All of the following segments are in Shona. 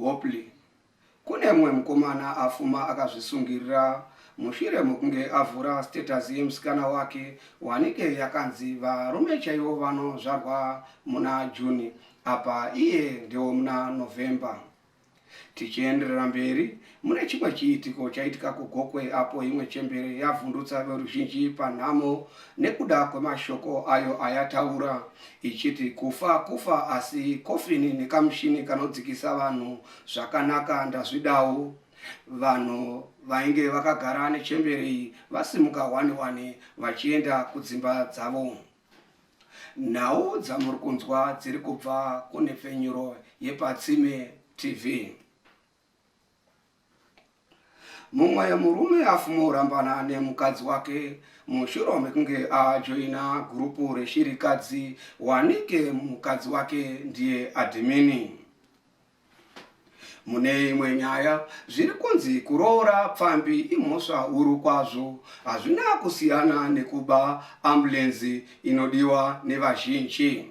Hopley. Kune mumwe mukomana afuma akazvisungirira mushure mokunge avhura status yemusikana wake wanike yakanzi varume chaivo vanozvarwa muna June apa iye ndewomuna November. Tichienderera mberi, Mune chimwe chiitiko chaitika kuGokwe apo imwe chembere yavhundutsa veruzhinji panhamo nekuda kwemashoko ayo ayataura ichiti kufa kufa asi kofini nekamushini kanodzikisa vanhu zvakanaka ndazvidawo. Vanhu vainge vakagara nechembere iyi vasimuka hwani hwani vachienda kudzimba dzavo. Nhau dzamuri kunzwa dziri kubva kunhepfenyuro yePatsime TV. mumwe murume afuma orambana nemukadzi wake mushure mekunge ajoina gurupu reshirikadzi wanike mukadzi wake ndiye adhimini mune imwe nyaya zviri kunzi kuroora pfambi imhosva huru kwazvo hazvina kusiyana nekuba ambulenzi inodiwa nevazhinji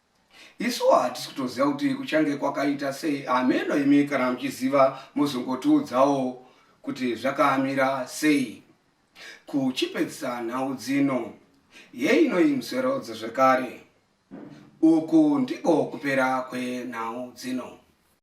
Isuwo hatisi kutoziva kuti kuchange kwakaita sei. Hameno imi kana muchiziva mozongotiudzawo kuti zvakamira sei. Kuchipedzisa nhau dzino, yeinoyi musoro dzezvekare. Uku ndiko kupera kwenhau dzino.